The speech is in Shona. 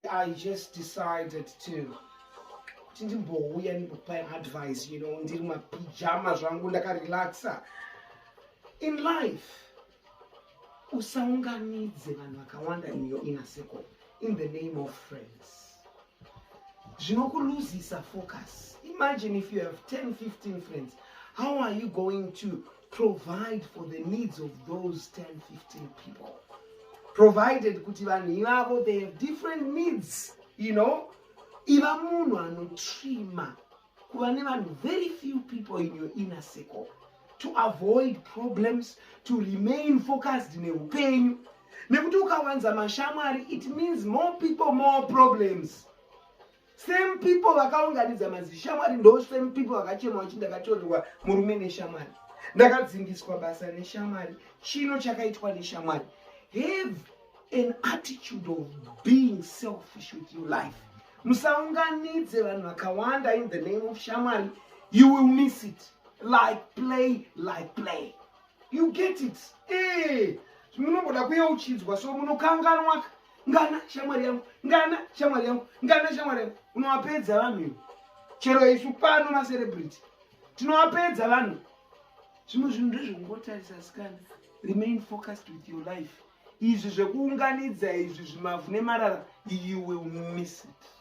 i just decided to kuti ndimbouya ndikupai advice you know ndiri mapijama zvangu ndakarelaxa in life usaunganidze vanhu vakawanda in your inner circle in the name of friends zvinokuluzisa focus imagine if you have 10 15 friends how are you going to provide for the needs of those 10 15 people provided kuti vanhu ivavo they have different needs you know iva munhu anotrima kuva nevanhu very few people in your inner circle to avoid problems to remain focused neupenyu nekuti ukawanza mashamwari it means more people more problems same people vakaunganidza mazishamwari ndo same people vakachema vachi ndakatorerwa murume neshamwari ndakadzingiswa basa neshamwari chino chakaitwa neshamwari have an attitude of being selfish with your life musaunganidze vanhu vakawanda in the name of shamwari you will miss it like play like play you get it eh, munomboda kuyeuchidzwa so munokanganwaka ngana shamwari yangu ngana shamwari yangu ngana shamwari yangu unowapedza vanhu ivo chero isu pano macelebrity tinowapedza vanhu zvimwe zvinhu ndezvekungotarisa asikana remain focused with your life izvi zvekuunganidza izvi zvimavhu nemarara you will miss it